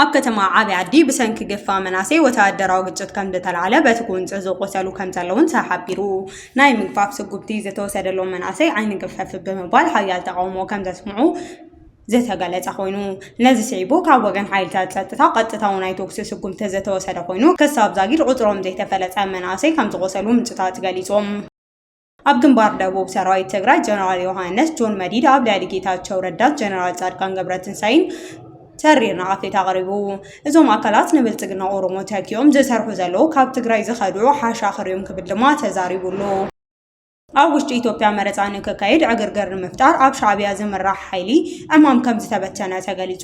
ኣብ ከተማ ዓብዪ ዓዲ ብሰንኪ ግፋ መናሰይ ወተሃደራዊ ግጭት ከም ዝተላዕለ በቲ ጉንፂ ዝቆሰሉ ከም ዘለውን ተሓቢሩ። ናይ ምግፋፍ ስጉምቲ ዝተወሰደሎም መናሰይ ዓይኒ ግፈፍ ብምባል ሓያል ተቃውሞ ከም ዘስምዑ ዝተገለጸ ኮይኑ ነዚ ስዒቡ ካብ ወገን ሓይልታት ጸጥታ ቀጥታዊ ናይ ተኩሲ ስጉምቲ ዝተወሰደ ኮይኑ ክሳብ ዛጊድ ቁጽሮም ዘይተፈለጠ መናእሰይ ከም ዝቆሰሉ ምንጭታት ገሊጾም። ኣብ ግንባር ደቡብ ሰራዊት ትግራይ ጀነራል ዮሃንስ ጆን መዲድ ኣብ ልዕሊ ጌታቸው ረዳት ጀነራል ጻድቃን ገብረትንሳኤን ተሪር ንኣፌት ኣቕሪቡ እዞም ኣካላት ንብልጽግና ኦሮሞ ተኪኦም ዝሰርሑ ዘለዉ ካብ ትግራይ ዝኸድዑ ሓሻኽር እዮም ክብል ድማ ተዛሪቡሉ። ኣብ ውሽጢ ኢትዮጵያ መረፃ ንክካየድ ዕግርግር ንምፍጣር ኣብ ሻዕቢያ ዝምራሕ ሓይሊ ዕማም ከም ዝተበተነ ተገሊፁ።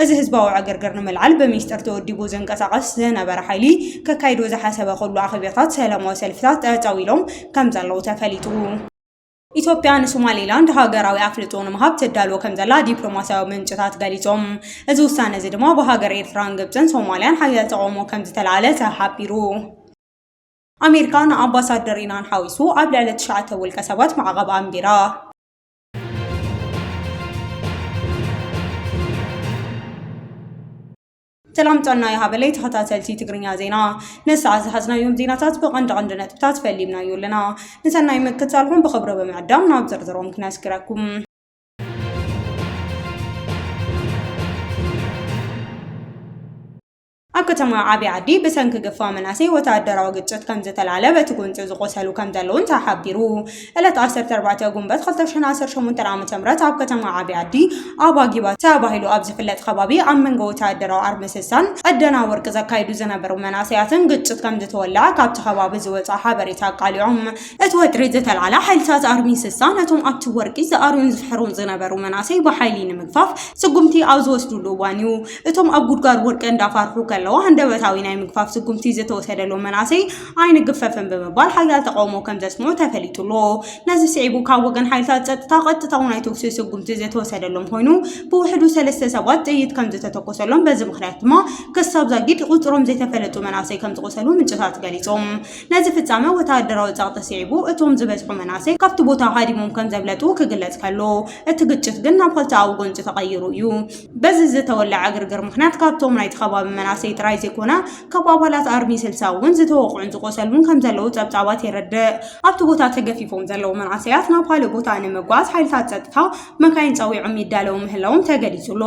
እዚ ህዝባዊ ዕግርግር ንምልዓል ብሚስጥር ተወዲቡ ዝንቀሳቐስ ዝነበረ ሓይሊ ከካይዶ ዝሓሰበ ኩሉ ኣኼባታት ሰላማዊ ሰልፍታት ጠጠው ኢሎም ከምዘለዉ ተፈሊጡ። ኢትዮጵያ ንሶማሌላንድ ሃገራዊ ኣፍልጦ ንምሃብ ትዳሎ ከም ዘላ ዲፕሎማስያዊ ምንጭታት ገሊጾም። እዚ ውሳነ እዚ ድማ ብሃገር ኤርትራን ግብጽን ሶማልያን ሓያል ተቓውሞ ከም ዝተላዕለ ተሓቢሩ። ኣሜሪካ ንኣምባሳደር ኢናን ሓዊሱ ኣብ ልዕሊ ትሽዓተ ውልቀ ሰባት ማዕቐብ ኣንቢራ። ሰላም ጥዕና ይሃበለይ ተኸታተልቲ ትግርኛ ዜና ንሰዓት ዝሓዝናዮም ዜናታት ብቐንዲ ቀንዲ ነጥብታት ፈሊምናዮ ኣለና ንሰናይ ምክትታልኩም ብኽብሪ ብምዕዳም ናብ ዝርዝሮም ክነስግረኩም ኣብ ከተማ ዓብይ ዓዲ ብሰንኪ ግፋ መናእሰይ ወተሃደራዊ ግጭት ከምዝተላዕለ በቲ ጎንፂ ዝቖሰሉ ከምዘለዉን ተሓቢሩ። ዕለት ዓሰርተ ኣርባዕተ ጉንበት ክልተ ሽሕን ዓሰርተ ሸሞንተን ዓመተ ምህረት ኣብ ከተማ ዓብይ ዓዲ ኣባ ጊባ ተባሂሉ ኣብ ዝፍለጥ ከባቢ ኣብ መንጎ ወተሃደራዊ ኣርምስሳን ዕደና ወርቂ ዘካይዱ ዝነበሩ መናእሰያትን ግጭት ከምዝተወለዐ ካብቲ ከባቢ ዝወፅኣ ሓበሬታ ኣቃሊዖም። እቲ ወጥሪ ዝተልዓለ ሓይልታት ኣርምስሳ ነቶም ኣብቲ ወርቂ ዝኣርዩን ዝፍሕሩን ዝነበሩ መናእሰይ ብሓይሊ ንምግፋፍ ስጉምቲ ኣብ ዝወስድሉ እዋን እዩ። እቶም ኣብ ጉድጓድ ወድቀ እንዳፋርሑ ከለዉ ሃንደበታዊ ናይ ምግፋፍ ስጉምቲ ዝተወሰደሎም መናእሰይ ኣይንግፈፍን ብምባል ሓያል ተቓውሞ ከምዘስምዑ ተፈሊጡ'ሎ። ነዚ ስዒቡ ካብ ወገን ሓይልታት ጸጥታ ቀጥታዊ ናይ ተኹሲ ስጉምቲ ዝተወሰደሎም ኮይኑ ብውሕዱ ሰለስተ ሰባት ጥይት ከምዝተተኮሰሎም በዚ ምኽንያት ድማ ክሳብ ዛጊድ ቁጽሮም ዘይተፈለጡ መናእሰይ ከምዝቖሰሉ ምንጭታት ገሊጾም። ነዚ ፍጻመ ወተሃደራዊ ጸቕጢ ስዒቡ እቶም ዝበዝሑ መናእሰይ ካብቲ ቦታ ሃዲሞም ከምዘምለጡ ክግለጽ ከሎ እቲ ግጭት ግን ናብ ክልተኣዊ ጎንጺ ተቐይሩ እዩ። በዚ ዝተወለዐ ዕግርግር ምኽንያት ካብቶም ናይቲ ከባቢ መናእሰይ ጥራይ ዘይኮነ ካብ ኣባላት ኣርሚ ስልሳ እውን ዝተወቕዑን ዝቖሰሉን ከምዘለዉ ጸብጻባት የረድእ። ኣብቲ ቦታ ተገፊፎም ዘለዉ መናእሰያት ናብ ካልእ ቦታ ንምጓዓዝ ሓይልታት ጸጥታ መካይን ጸዊዖም ይዳለዉ ምህላዎም ተገሊጹ ኣሎ።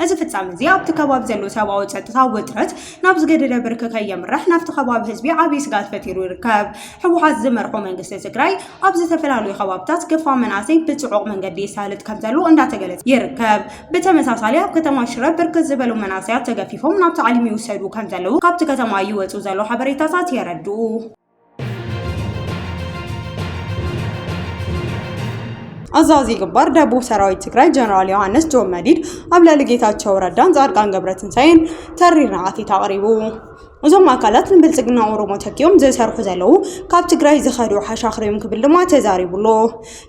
እዚ ፍጻመ እዚ ኣብቲ ከባቢ ዘሎ ሰብኣዊ ጸጥታ ውጥረት ናብ ዝገደደ ብርኪ ከየምርሕ ናብቲ ከባቢ ህዝቢ ዓብዪ ስግኣት ፈጢሩ ይርከብ። ህወሓት ዝመርሖ መንግስቲ ትግራይ፣ ኣብ ዝተፈላለዩ ከባብታት ገፋ መናእሰይ ብፅዑቕ መንገዲ የሳልጥ ከምዘሎ እንዳተገለፀ ይርከብ። ብተመሳሳሊ ኣብ ከተማ ሽረ ብርክት ዝበሉ መናእሰያት ተገፊፎም ናብ ታዕሊም ይውሰዱ ከምዘለዉ ካብቲ ከተማ ይወፁ ዘለዉ ሓበሬታታት የረድኡ። ኣዛዚ ግንባር ደቡብ ሰራዊት ትግራይ ጀነራል ዮሃንስ ጆን መዲድ ኣብ ልዕሊ ጌታቸው ረዳን ጻድቃን ገብረትንሳኤን ተሪር ንዓቲት ኣቕሪቡ። እዞም ኣካላት ንብልፅግና ኦሮሞ ተኪኦም ዝሰርሑ ዘለዉ ካብ ትግራይ ዝኸዱ ሓሻኽር እዮም ክብል ድማ ተዛሪቡ ኣሎ።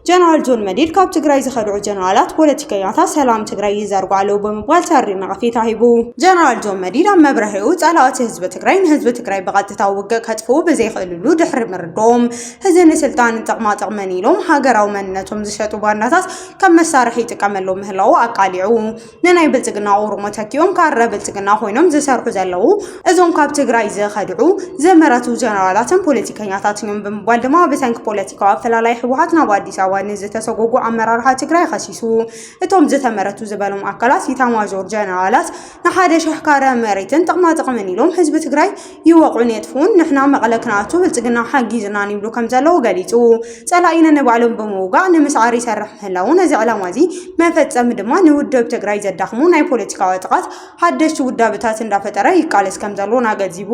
ጀነራል ጆን መዲድ ካብ ትግራይ ዝኸድዑ ጀነራላት ፖለቲከኛታት ሰላም ትግራይ ይዘርጉ ኣለዉ ብምባል ተሪር ነቐፌታ ሂቡ። ጀነራል ጆን መዲድ ኣብ መብርሂኡ ፀላእቲ ህዝቢ ትግራይ ንህዝቢ ትግራይ ብቐጥታ ውግእ ከጥፍኡ ብዘይኽእልሉ ድሕሪ ምርድኦም ህዚ ንስልጣንን ጥቕማ ጥቕምን ኢሎም ሃገራዊ መንነቶም ዝሸጡ ባንዳታት ከም መሳርሒ ይጥቀመሎም ምህላዉ ኣቃሊዑ። ንናይ ብልፅግና ኦሮሞ ተኪኦም ካራ ብልፅግና ኮይኖም ዝሰርሑ ዘለዉ እዞም ካብ ትግራይ ዝኸድዑ ዘመረቱ ጀነራላትን ፖለቲከኛታትን እዮም ብምባል ድማ ብሰንኪ ፖለቲካዊ ኣፈላላይ ህወሓት ናብ ኣዲስ ኣበባ ንዝተሰጎጉ ኣመራርሓ ትግራይ ከሲሱ። እቶም ዝተመረቱ ዝበሎም ኣካላት ኢታማዦር ጀነራላት ንሓደ ሽሕ ካረ መሬትን ጥቕማጥቕምን ኢሎም ህዝቢ ትግራይ ይወቕዑን የጥፍኡን፣ ንሕና መቐለ ክንኣቱ ብልፅግና ሓጊዙናን ይብሉ ከምዘለዉ ገሊፁ። ፀላኢ ነንባዕሎም ብምውጋእ ንምስዓር ይሰርሕ ምህላዉ፣ ነዚ ዕላማ እዚ መፈፀሚ ድማ ንውድብ ትግራይ ዘዳኽሙ ናይ ፖለቲካዊ ዕጥቓት ሓደሽቲ ውዳበታት እንዳፈጠረ ይቃለስ ከምዘሎን ኣገንዚቡ።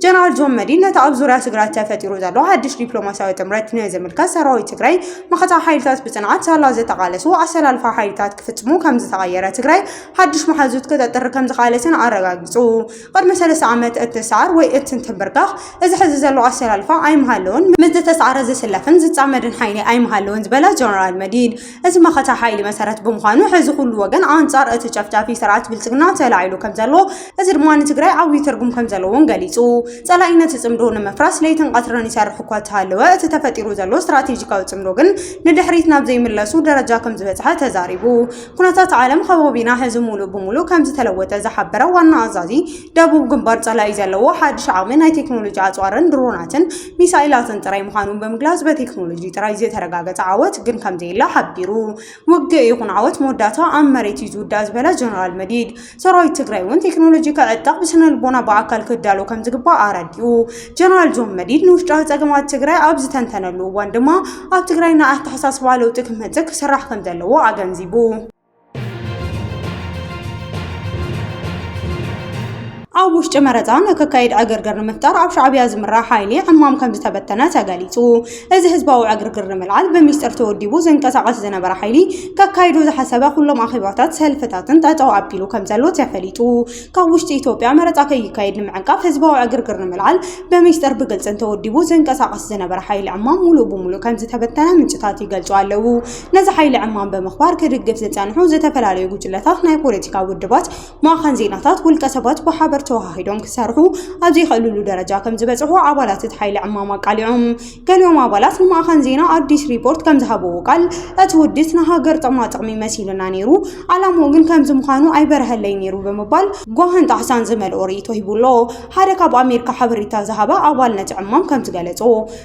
ጀነራል ጆን መዲድ ነቲ ኣብ ዙርያ ትግራይ ተፈጢሩ ዘሎ ሓድሽ ዲፕሎማሲያዊ ጥምረት ንዝምልከት ሰራዊት ትግራይ መኸተ ሓይልታት ብፅንዓት ሳላ ዝተቓለሱ ኣሰላልፋ ሓይልታት ክፍፅሙ ከምዝተቐየረ ትግራይ ሓድሽ መሓዙት ክተጥሪ ከምዝኸኣለትን ኣረጋጊፁ። ቅድሚ ሰለስተ ዓመት እትስዓር ወይ እትንትምብርከኽ እዚ ሕዚ ዘሎ ኣሰላልፋ ኣይምሃለወን፣ ምስ ዝተስዓረ ዝስለፍን ዝፃመድን ሓይሊ ኣይምሃለወን ዝበለ ጀነራል መዲድ፣ እዚ መኸተ ሓይሊ መሰረት ብምዃኑ ሕዚ ኩሉ ወገን ኣንፃር እቲ ጨፍጫፊ ስርዓት ብልፅግና ተላዒሉ ከምዘሎ፣ እዚ ድማ ንትግራይ ዓብዪ ትርጉም ከምዘለዎን ገሊፁ። ፀላኢ ነቲ ፅምዶ ንምፍራስ ለይትን ቐትርን ይሰርሕ እኳ እተሃለወ፣ እቲ ተፈጢሩ ዘሎ ስትራቴጂካዊ ፅምዶ ግን ንድሕሪት ናብ ዘይምለሱ ደረጃ ከምዝበፅሐ ተዛሪቡ። ኩነታት ዓለም ኸባቢና ሕዚ ሙሉእ ብሙሉእ ከምዝተለወጠ ዝሓበረ ዋና ኣዛዚ ደቡብ ግንባር ጸላኢ ዘለዎ ሓድሽ ዓቕሚ ናይ ቴክኖሎጂ ኣጽዋርን ድሮናትን ሚሳኤላትን ጥራይ ምዃኑ ብምግላጽ በቴክኖሎጂ ጥራይ ዝተረጋገጸ ዓወት ግን ከምዘየለ ሓቢሩ። ውግእ ይኹን ዓወት መወዳእታ ኣብ መሬት እዩ ዝውዳእ ዝበለ ጀነራል መዲድ ሰራዊት ትግራይ እውን ቴክኖሎጂ ክዕጠቕ ብስነልቦና ብኣካል ክዳሎ ከም ዝግባእ ኣረዲኡ። ጀነራል ዞን መዲድ ንውሽጣዊ ጸገማት ትግራይ ኣብ ዝተንተነሉ እዋን ድማ ኣብ ትግራይ ናይ ኣተሓሳስባ ለውጢ ክመጽእ ክስራሕ ከም ዘለዎ ኣገንዚቡ። ኣብ ውሽጢ መረፃ ንክካየድ ዕግርግር ንምፍጣር ኣብ ሻዕቢያ ዝምራሕ ሓይሊ ዕማም ከም ዝተበተነ ተገሊፁ። እዚ ህዝባዊ ዕግርግር ንምልዓል ብሚስጥር ተወዲቡ ዝንቀሳቐስ ዝነበረ ሓይሊ ከካይዶ ዝሓሰበ ኩሎም ኣኼባታት ሰልፍታትን ጠጠው ኣቢሉ ከምዘሎ ተፈሊጡ። ካብ ውሽጢ ኢትዮጵያ መረፃ ከይካየድ ንምዕንቃፍ ህዝባዊ ዕግርግር ንምልዓል ብሚስጥር ብግልፅን ተወዲቡ ዝንቀሳቐስ ዝነበረ ሓይሊ ዕማም ሙሉእ ብሙሉእ ከምዝተበተነ ምንጭታት ይገልፁ ኣለው። ነዚ ሓይሊ ዕማም ብምኽባር ክድግፍ ዝፀንሑ ዝተፈላለዩ ጉጅለታት ናይ ፖለቲካ ውድባት ማእኸን ዜናታት ውልቀ ሰባት ብሓበር ተወሃሂዶም ክሰርሑ ኣብ ዘይኽእልሉ ደረጃ ከም ዝበፅሑ ኣባላት እቲ ሓይሊ ዕማም ኣቃሊዖም። ገሊኦም ኣባላት ንማእኸን ዜና ኣዲስ ሪፖርት ከም ዝሃብዎ ቃል፣ እቲ ውዲት ንሃገር ጥቕማ ጥቕሚ መሲሉና ነይሩ፣ ዓላምኡ ግን ከምዚ ምዃኑ ኣይበርሀለይን ነይሩ ብምባል ጓህን ጣህሳን ዝመልኦ ርእይቶ ሂቡ ኣሎ። ሓደ ካብ ኣሜሪካ ሓበሬታ ዝሃበ ኣባል ነቲ ዕማም ከም ዝገለፆ፣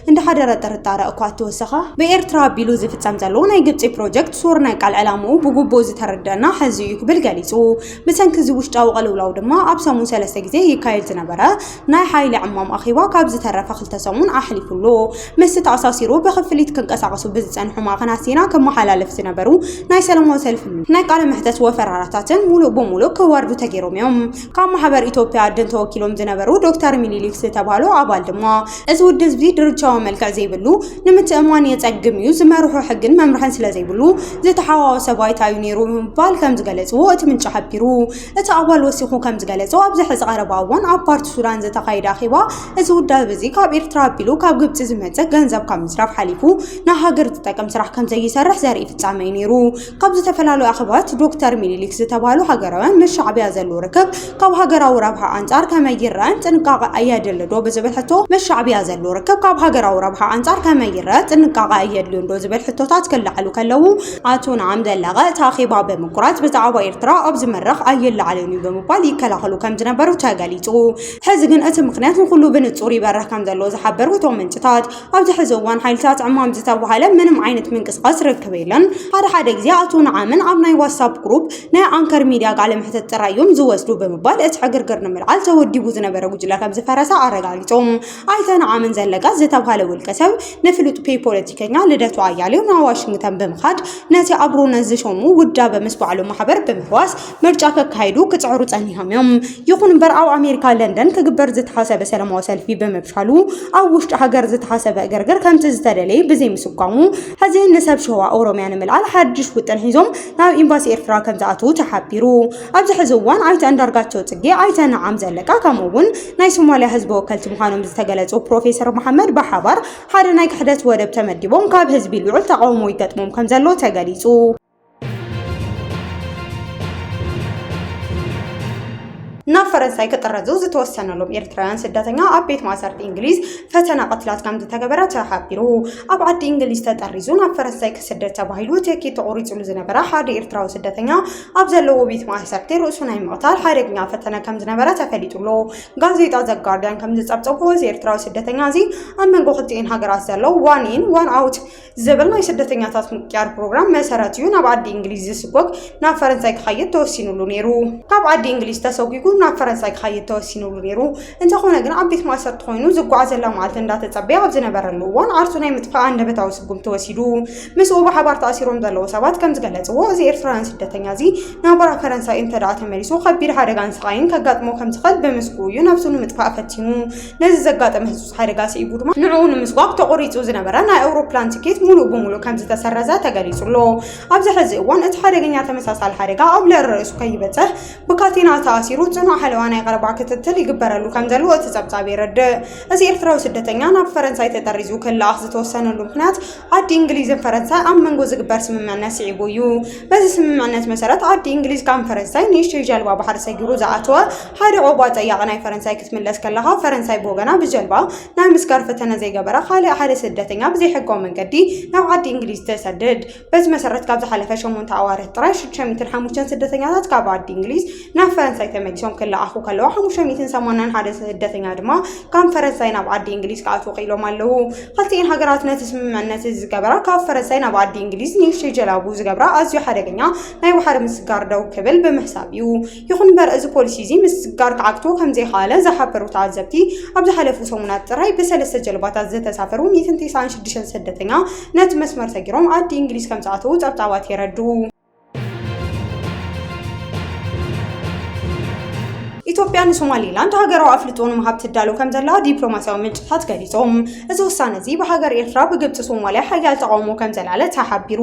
እንዳሓደረ ጥርጣረ እኳ እተወሰኸ፣ ብኤርትራ ኣቢሉ ዝፍጸም ዘሎ ናይ ግብጺ ፕሮጀክት ሶር ናይ ቃል ዕላምኡ ብጉቡእ ዝተረደኣና ሕዚ እዩ ክብል ገሊጹ። ብሰንኪ እዚ ውሽጣዊ ቅልውላው ድማ ኣብ ሰሙን ሰለስተ ግዜ ይካየድ ዝነበረ ናይ ሓይሊ ዕማም ኣኼባ ካብ ዝተረፈ ክልተ ሰሙን ኣሕሊፉ ኣሎ። ምስቲ ተኣሳሲሩ ብክፍሊት ክንቀሳቐሱ ብዝጸንሑ ማዕከናት ዜና ክመሓላለፍ ዝነበሩ ናይ ሰለማዊ ሰልፊ፣ ናይ ቃለ መሕተት ወፈራታትን ምሉእ ብምሉእ ክወርዱ ተገይሮም እዮም። ካብ ማሕበር ኢትዮጵያ ኣድን ተወኪሎም ዝነበሩ ዶክተር ሚኒሊክ ዝተባህሉ ኣባል ድማ እዚ ውድብ እዚ ድርቻዊ መልክዕ ዘይብሉ ንምትእማን የጸግም እዩ ዝመርሖ ሕግን መምርሕን ስለ ዘይብሉ ዝተሓዋወሰ ባይታ እዩ ነይሩ ብምባል ከም ዝገለጽዎ እቲ ምንጪ ሓቢሩ። እቲ ኣባል ወሲኹ ከም ዝገለጾ ኣብዚ ሕዚ ቀረባ እዋን ኣብ ፓርቲ ሱዳን ዝተኻየደ ኣኼባ እዚ ውዳብ እዚ ካብ ኤርትራ ኣቢሉ ካብ ግብጺ ዝመጽእ ገንዘብ ካብ ምስራፍ ሓሊፉ ንሃገር ዝጠቅም ስራሕ ከም ዘይሰርሕ ዘርኢ ፍጻመ እዩ ነይሩ። ካብ ዝተፈላለዩ ኣኼባታት ዶክተር ሚኒሊክ ዝተባህሉ ሃገራውያን ምስ ሻዕብያ ዘሉ ርክብ ካብ ሃገራዊ ረብሓ ኣንጻር ከመይ ይረኣን ጥንቃቐ ኣየድልዶ ብዝብል ሕቶ ምስ ሻዕብያ ዘሉ ርክብ ካብ ሃገራዊ ረብሓ ኣንጻር ከመይ ይረኣ ጥንቃቐ ኣየድልዮንዶ ዝብል ሕቶታት ክለዓሉ ከለዉ ኣቶ ንዓም ዘለቀ እቲ ኣኼባ ብምቁራጽ ብዛዕባ ኤርትራ ኣብዚ መድረኽ ኣይለዓልን እዩ ብምባል ይከላኸሉ ከም ዝነበሩ ተገሊጹ። ሕዚ ግን እቲ ምኽንያት ንኹሉ ብንጹር ይበርህ ከም ዘሎ ዝሓበሩ እቶም ምንጭታት ኣብዚ ሕዚ እዋን ሓይልታት ዕማም ዝተባሃለ ምንም ዓይነት ምንቅስቓስ ርክብ የለን። ሓደ ሓደ ግዜ ኣቶ ንዓምን ኣብ ናይ ዋትሳፕ ግሩፕ ናይ ኣንከር ሚድያ ቃለ መሕተት ጥራይ እዮም ዝወስዱ ብምባል እቲ ዕግርግር ንምልዓል ተወዲቡ ዝነበረ ጉጅለ ከም ዝፈረሰ ኣረጋጊጾም። ኣይተ ንዓምን ዘለቀ ዝተባሃለ ውልቀ ሰብ ንፍሉጥ ፔይ ፖለቲከኛ ልደቱ ኣያሌው ናብ ዋሽንግተን ብምኻድ ነቲ ኣብሮነት ዝሸሙ ውዳበ ምስ ባዕሉ ማሕበር ብምሕዋስ ምርጫ ከካይዱ ክጽዕሩ ጸኒሖም እዮም። ይኹን እምበር ኣብ ኣሜሪካ ለንደን ክግበር ዝተሓሰበ ሰለማዊ ሰልፊ ብምፍሻሉ ኣብ ውሽጢ ሃገር ዝተሓሰበ እግርግር ከምቲ ዝተደለየ ብዘይምስጓሙ ሕዚ ንሰብ ሸዋ ኦሮሚያ ንምልዓል ሓድሽ ውጥን ሒዞም ናብ ኤምባሲ ኤርትራ ከምዝኣተዉ ተሓቢሩ። ኣብዚ ሕዚ እዋን ኣይተ ኣንዳርጋቸው ጽጌ፣ ኣይተ ነዓም ዘለቀ ከምኡ እውን ናይ ሶማሊያ ህዝቢ ወከልቲ ምዃኖም ዝተገለጹ ፕሮፌሰር መሓመድ ብሓባር ሓደ ናይ ክሕደት ወደብ ተመዲቦም ካብ ህዝቢ ልዑል ተቓውሞ ይገጥሞም ከምዘሎ ተገሊጹ። ናብ ፈረንሳይ ክጥረዙ ዝተወሰነሎም ኤርትራውያን ስደተኛ ኣብ ቤት ማእሰርቲ እንግሊዝ ፈተና ቅትላት ከም ዝተገበረ ተሓቢሩ። ኣብ ዓዲ እንግሊዝ ተጠሪዙ ናብ ፈረንሳይ ክስደድ ተባሂሉ ትኬት ተቖሪጹሉ ዝነበረ ሓደ ኤርትራዊ ስደተኛ ኣብ ዘለዎ ቤት ማእሰርቲ ርእሱ ናይ ምቕታል ሓደገኛ ፈተነ ከም ዝነበረ ተፈሊጡሎ። ጋዜጣ ዘጋርዲያን ከም ዝጸብጸቦ እዚ ኤርትራዊ ስደተኛ እዚ ኣብ መንጎ ክልቲኤን ሃገራት ዘሎ ዋን ኢን ዋን ኣውት ዝብል ናይ ስደተኛታት ምቅያር ፕሮግራም መሰረት እዩ ናብ ዓዲ እንግሊዝ ዝስጎግ ናብ ፈረንሳይ ክኸይድ ተወሲኑሉ ነይሩ ካብ ዓዲ እንግሊዝ ተሰጒጉ ናብ ፈረንሳይ ክኸይድ ተወሲኑሉ ነይሩ እንተኾነ ግን ኣብ ቤት ማእሰርቲ ኮይኑ ዝጓዓዘላ መዓልቲ እንዳተጸበየ ኣብ ዝነበረሉ እዋን ዓርሱ ናይ ምጥፋእ ኣንደበታዊ ስጉም ተወሲዱ ምስኡ ብሓባር ተኣሲሮም ዘለዉ ሰባት ከም ዝገለጽዎ እዚ ኤርትራውያን ስደተኛ እዚ ናብራ ፈረንሳይ እንተደኣ ተመሊሱ ከቢድ ሓደጋን ስቓይን ከጋጥሞ ከም ዝኽእል ብምስግኡ እዩ ነብሱ ንምጥፋእ ፈቲኑ ነዚ ዘጋጠመ ህጹጽ ሓደጋ ስዒቡ ድማ ንዕኡ ንምስጓግ ተቖሪጹ ዝነበረ ናይ ኣውሮፕላን ትኬት ሙሉእ ብሙሉእ ከምዝተሰረዘ ተገሊጹ ኣሎ። ኣብዚ ሕዚ እዋን እቲ ሓደገኛ ተመሳሳሊ ሓደጋ ኣብ ልዕሊ ርእሱ ከይበጽሕ ብካቴና ተኣሲሩ ጽኑዕ ሓለዋ ናይ ቀረባ ክትትል ይግበረሉ ከምዘሎ እቲ ጸብጻብ የረድእ። እዚ ኤርትራዊ ስደተኛ ናብ ፈረንሳይ ተጠሪዙ ክለኣኽ ዝተወሰነሉ ምኽንያት ዓዲ እንግሊዝን ፈረንሳይ ኣብ መንጎ ዝግበር ስምምዕነት ስዒቡ እዩ። በዚ ስምምዕነት መሰረት ዓዲ እንግሊዝ ካም ፈረንሳይ ንእሽተይ ጀልባ ባሕሪ ሰጊሩ ዝኣተወ ሓደ ዑቕባ ጠያቒ ናይ ፈረንሳይ ክትምለስ ከለኻ ፈረንሳይ ብወገና ብጀልባ ናይ ምስጋር ፈተነ ዘይገበረ ካልእ ሓደ ስደተኛ ብዘይሕጋዊ መንገዲ ናብ ዓዲ እንግሊዝ ተሰድድ። በዚ መሰረት ካብ ዝሓለፈ ሸሞንተ ኣዋርሕ ጥራይ ሽዱሽተ ሚእትን ሓሙሽተን ስደተኛታት ካብ ዓዲ እንግሊዝ ናብ ፈረንሳይ ተመሊሶም ክለኣኹ ከለዋ ሓሙሽተ ሚእትን ሰማንያን ሓደ ስደተኛ ድማ ካብ ፈረንሳይ ናብ ዓዲ እንግሊዝ ክኣትዉ ክኢሎም ኣለዉ። ክልቲኤን ሃገራት ነቲ ስምምዕነት እዚ ዝገበራ ካብ ፈረንሳይ ናብ ዓዲ እንግሊዝ ንእሽተይ ጀላቡ ዝገብራ ኣዝዩ ሓደገኛ ናይ ባሕሪ ምስጋር ደው ክብል ብምሕሳብ እዩ። ይኹን እምበር እዚ ፖሊሲ እዚ ምስጋር ክዓግቶ ከም ዘይኸኣለ ዝሓበሩ ተዓዘብቲ ኣብ ዝሓለፉ ሰሙናት ጥራይ ብሰለስተ ጀልባታት ዝተሳፈሩ ሚእትን ተስዓን ሽዱሽተን ስደተኛ ነቲ መስመር ሰጊሮም ዓዲ እንግሊዝ ከም ዝኣተዉ ጸብጻባት የረድኡ። ኢትዮጵያ ንሶማሌላንድ ሃገራዊ ኣፍልጦ ንምሃብ ትዳሎ ከም ዘላ ዲፕሎማስያዊ ምንጭታት ገሊጾም። እዚ ውሳነ እዚ ብሃገር ኤርትራ ብግብጺ ሶማልያ ሓያል ተቓውሞ ከም ዘልዓለ ተሓቢሩ።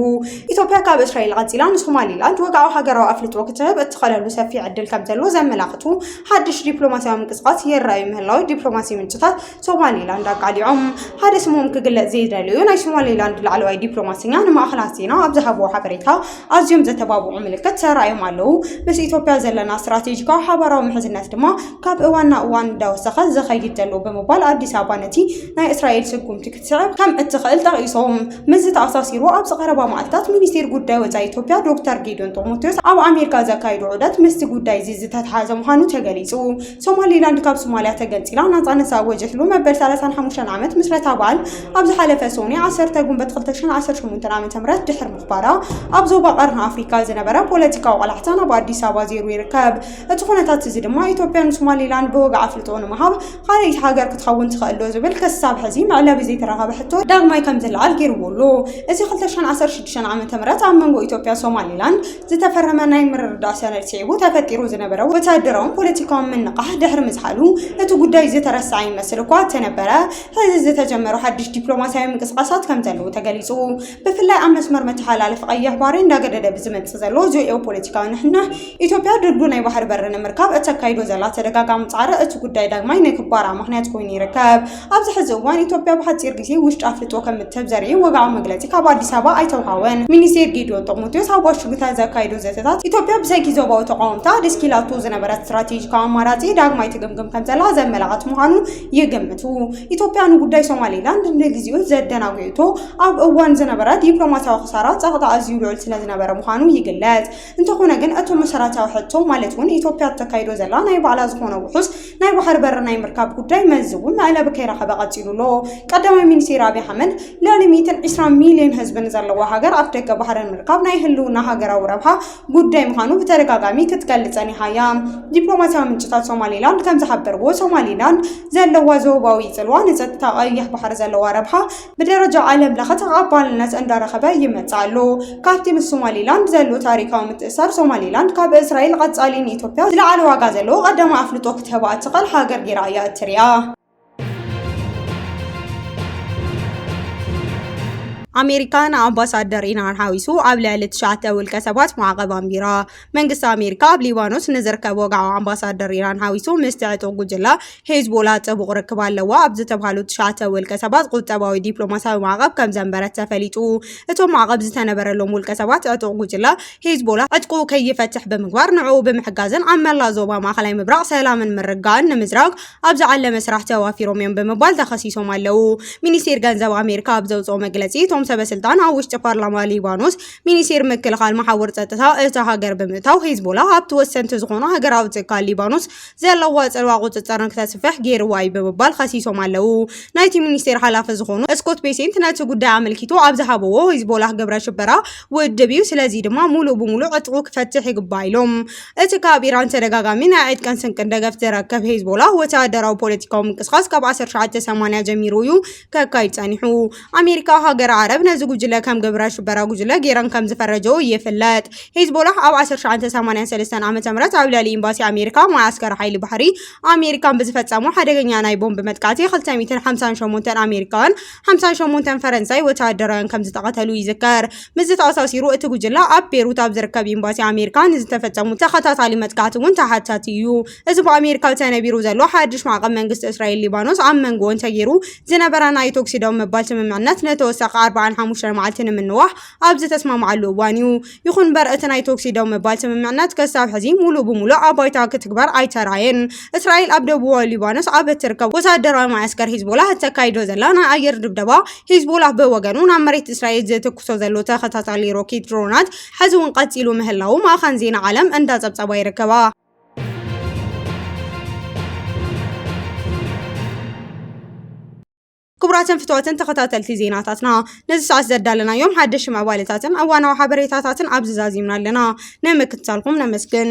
ኢትዮጵያ ካብ እስራኤል ቐጺላ ንሶማሌላንድ ወግዓዊ ሃገራዊ ኣፍልጦ ክትህብ እትኸለሉ ሰፊሕ ዕድል ከም ዘሎ ዘመላኽቱ ሓድሽ ዲፕሎማስያዊ ምንቅስቓስ ይረኣዩ ምህላው ዲፕሎማሲ ምንጭታት ሶማሌላንድ ኣቃሊዖም። ሓደ ስሞም ክግለጽ ዘይደለዩ ናይ ሶማሌላንድ ላዕለዋይ ዲፕሎማሰኛ ንማእኸናት ዜና ኣብ ዝሃብዎ ሓበሬታ ኣዝዮም ዘተባብዑ ምልክት ተራእዮም ኣለዉ፣ ምስ ኢትዮጵያ ዘለና ስትራቴጂካዊ ሓባራዊ ምሕዝነት ድማ ካብ እዋን ናብ እዋን እንዳወሰኸ ዝኸይድ ዘሎ ብምባል ኣዲስ ኣበባ ነቲ ናይ እስራኤል ስጉምቲ ክትስዕብ ከም እትኽእል ጠቒሶም። ምስዚ ተኣሳሲሩ ኣብዚ ቀረባ መዓልታት ሚኒስቴር ጉዳይ ወፃኢ ኢትዮጵያ ዶክተር ጌዲዮን ጢሞቴዎስ ኣብ ኣሜሪካ ዘካይዶ ዑደት ምስቲ ጉዳይ'ዚ ዝተትሓዘ ምዃኑ ተገሊፁ። ሶማሊላንድ ካብ ሶማልያ ተገንፂላ ናፃነት ዝኣወጀትሉ መበል ሰላሳን ሓሙሽተን ዓመት ምስረታ በዓል ኣብ ዝሓለፈ ሰኑይ ዓሰርተ ጉንበት ክልተ ሽሕን ዓሰርተ ሸሞንተን ዓመተ ምህረት ድሕሪ ምኽባራ ኣብ ዞባ ቀርኒ ኣፍሪካ ዝነበረ ፖለቲካዊ ቆላሕታ ናብ ኣዲስ ኣበባ ዘይሩ ይርከብ። እቲ ኩነታት እዚ ድማ ኢትዮጵያ ንሶማሊላንድ ብወግዒ ኣፍልጦ ንምሃብ ካልኣይቲ ሃገር ክትኸውን ትኽእል ዶ ዝብል ክሳብ ሕዚ መዕለቢ ዘይተረኸበ ሕቶ ዳግማይ ከምዝለዓል ገይርዎ ኣሎ። እዚ ክልተ ሽሕን ዓሰርተ ሽዱሽተን ዓመተ ምህረት ኣብ መንጎ ኢትዮጵያ ሶማሊላንድ ዝተፈረመ ናይ ምርድዳእ ሰነድ ስዒቡ ተፈጢሩ ዝነበረ ወተሃደራውን ፖለቲካውን ምንቕቓሕ ድሕሪ ምዝሓሉ፣ እቲ ጉዳይ ዝተረስዐ ይመስል እኳ እተነበረ፣ ሕዚ ዝተጀመሩ ሓድሽ ዲፕሎማስያዊ ምንቅስቓሳት ከም ዘለዉ ተገሊጹ። ብፍላይ ኣብ መስመር መተሓላለፊ ቀይሕ ባሕሪ እንዳገደደ ብዝመጽእ ዘሎ ጂኦፖለቲካዊ ንሕንሕ፣ ኢትዮጵያ ድልዱል ናይ ባሕሪ በሪ ንምርካብ እተካይዶ ዘላ ተደጋጋሚ ጻዕሪ እቲ ጉዳይ ዳግማይ ንክባራዕ ምኽንያት ኮይኑ ይርከብ። ኣብዚ ሕዚ እዋን ኢትዮጵያ ብሓፂር ግዜ ውሽጢ ኣፍልጦ ከምትህብ ዘርኢ ወግዓዊ መግለፂ ካብ ኣዲስ ኣበባ ኣይተውሃወን። ሚኒስቴር ጌዲዮን ጢሞቴዎስ ኣብ ዋሽንግተን ዘካይዶ ዘተታት ኢትዮጵያ ብሰንኪ ዞባዊ ተቓወምታ ኣደስኪላቶ ዝነበረት ስትራቴጂካዊ ኣማራፂ ዳግማይ ትግምግም ከምዘላ ዘመላኽት ምዃኑ ይግምቱ። ኢትዮጵያ ንጉዳይ ሶማሌላንድ ንግዚኡ ዘደናጒኡቶ ኣብ እዋን ዝነበረ ዲፕሎማሲያዊ ክሳራ ፀቕጣ ኣዝዩ ልዑል ስለዝነበረ ምዃኑ ይግለፅ። እንተኾነ ግን እቱ መሰራታዊ ሕቶ ማለት እውን ኢትዮጵያ እተካይዶ ዘላ ናይ ባዕላ ዝኾነ ውሑስ ናይ ባሕሪ በሪ ናይ ምርካብ ጉዳይ መልዚ እውን መዕለቢ ከይረኸበ ቀፂሉ ኣሎ። ቀዳማይ ሚኒስቴር ኣብይ ኣሕመድ ልዕሊ ሚእትን ዒስራን ሚሊየን ህዝቢ ንዘለዋ ሃገር ኣፍ ደገ ባሕሪ ምርካብ ናይ ህልውና ሃገራዊ ረብሓ ጉዳይ ምዃኑ ብተደጋጋሚ ክትገልፅ ፀኒሓ እያ። ዲፕሎማሲያዊ ምንጭታት ሶማሊላንድ ከምዝሓበርዎ ሶማሊላንድ ዘለዋ ዞባዊ ፅልዋ ንፀጥታ ቀይሕ ባሕሪ ዘለዋ ረብሓ ብደረጃ ዓለም ለኸ ተቐባልነት እንዳረኸበ ይመጽእ ኣሎ። ካብቲ ምስ ሶማሊላንድ ዘሎ ታሪኻዊ ምትእስሳር፣ ሶማሊላንድ ካብ እስራኤል ቐጻሊ ንኢትዮጵያ ዝለዓለ ዋጋ ዘለዎ ቐዳማይ ኣፍልጦ ክትህባ እትኽእል ሃገር ጌራ እያ እትሪኣ። ኣሜሪካ ንኣምባሳደር ኢራን ሓዊሱ ኣብ ልዕሊ ትሽዓተ ውልቀሰባት ማዕቐብ ኣንቢራ። መንግስቲ ኣሜሪካ ኣብ ሊባኖስ ንዝርከብ ወግዓዊ ኣምባሳደር ኢራን ሓዊሱ ምስቲ ዕጡቕ ጉጅለ ሄዝቦላ ጥቡቕ ርክብ ኣለዎ ኣብ ዝተብሃሉ ትሽዓተ ውልቀ ሰባት ቁጠባዊ ዲፕሎማስያዊ ማዕቐብ ከም ዘንበረት ተፈሊጡ። እቶም ማዕቐብ ዝተነበረሎም ውልቀ ሰባት ዕጡቕ ጉጅለ ሄዝቦላ ዕጥቁ ከይፈትሕ ብምግባር ንዕኡ ብምሕጋዝን ኣብ መላእ ዞባ ማእኸላይ ምብራቕ ሰላምን ምርግጋእን ንምዝራግ ኣብ ዝዓለመ ስራሕ ተዋፊሮም እዮም ብምባል ተኸሲሶም ኣለዉ። ሚኒስቴር ገንዘብ ኣሜሪካ ኣብ ዘውፅኦ መግለፂ እቶም ሰበስልጣን ኣብ ውሽጢ ፓርላማ ሊባኖስ ሚኒስቴር ምክልኻል መሓውር ጸጥታ እታ ሃገር ብምእታው ሂዝቦላ ኣብቲ ወሰንቲ ዝኾኑ ሃገራዊ ትካል ሊባኖስ ዘለዋ ጽልዋ ቁጽጽር ንክተስፍሕ ገይርዋ እዩ ብምባል ከሲሶም ኣለዉ። ናይቲ ሚኒስቴር ሓላፊ ዝኾኑ ስኮት ቤሴንት ነቲ ጉዳይ ኣመልኪቱ ኣብ ዝሃብዎ ሂዝቦላህ ግብረ ሽበራ ውድብ እዩ፣ ስለዚ ድማ ሙሉእ ብሙሉእ ዕጥቁ ክፈትሕ ይግባእ ኢሎም። እቲ ካብ ኢራን ተደጋጋሚ ናይ ዕጥቅን ስንቅን ደገፍ ዝረከብ ሂዝቦላህ ወተሃደራዊ ፖለቲካዊ ምንቅስቓስ ካብ ዓሰርተ ትሽዓተ ሰማንያ ጀሚሩ እዩ ከካይድ ጸኒሑ። ኣሜሪካ ሃገር ዓረብ ነዚ ጉጅለ ከም ግብረ ሽበራ ጉጅለ ገይረን ከም ዝፈረጀኦ ይፍለጥ። ሂዝቦላህ ኣብ 1983 ዓ.ም ኣብ ልዕሊ ኤምባሲ ኣሜሪካ መዓስከር ሓይሊ ባሕሪ ኣሜሪካን ብዝፈጸሞ ሓደገኛ ናይ ቦምብ መጥቃዕቲ 258 ኣሜሪካን 58 ፈረንሳይ ወተሃደራውያን ከም ዝተቐተሉ ይዝከር። ምስዚ ተኣሳሲሩ እቲ ጉጅለ ኣብ ቤሩት ኣብ ዝርከብ ኤምባሲ ኣሜሪካ ንዝተፈጸሙ ተኸታታሊ መጥቃዕቲ እውን ተሓታቲ እዩ። እዚ ብኣሜሪካ ተነቢሩ ዘሎ ሓድሽ ማዕቐብ መንግስቲ እስራኤል ሊባኖስ ኣብ መንጎኦን ተገይሩ ዝነበረ ናይ ቶክሲ ደው ምባል ስምምዕነት ንተወሳኺ ኣርባዓን ሓሙሽተን መዓልቲ ንምንዋሕ ኣብ ዝተስማምዓሉ እዋን እዩ። ይኹን እምበር እቲ ናይ ቶክሲ ደው ምባል ስምምዕነት ክሳብ ሕዚ ሙሉእ ብሙሉእ ኣብ ባይታ ክትግበር ኣይተርኣየን። እስራኤል ኣብ ደቡባዊ ሊባኖስ ኣብ እትርከብ ወተሃደራዊ መዓስከር ሂዝቦላህ እተካይዶ ዘላ ናይ ኣየር ድብደባ፣ ሂዝቦላህ ብወገኑ ናብ መሬት እስራኤል ዝትኩሶ ዘሎ ተኸታታሊ ሮኬት ድሮናት ሕዚ እውን ቀፂሉ ምህላዉ ማእኸን ዜና ዓለም እንዳፀብፀባ ይርከባ። ክቡራትን ፍትዋትን ተኸታተልቲ ዜናታትና ነዚ ሰዓት ዘዳለናዮም ሓደሽ ምዕባለታትን እዋናዊ ሓበሬታታትን ኣብዚ ዛዚምና ኣለና ንምክትታልኩም ነመስግን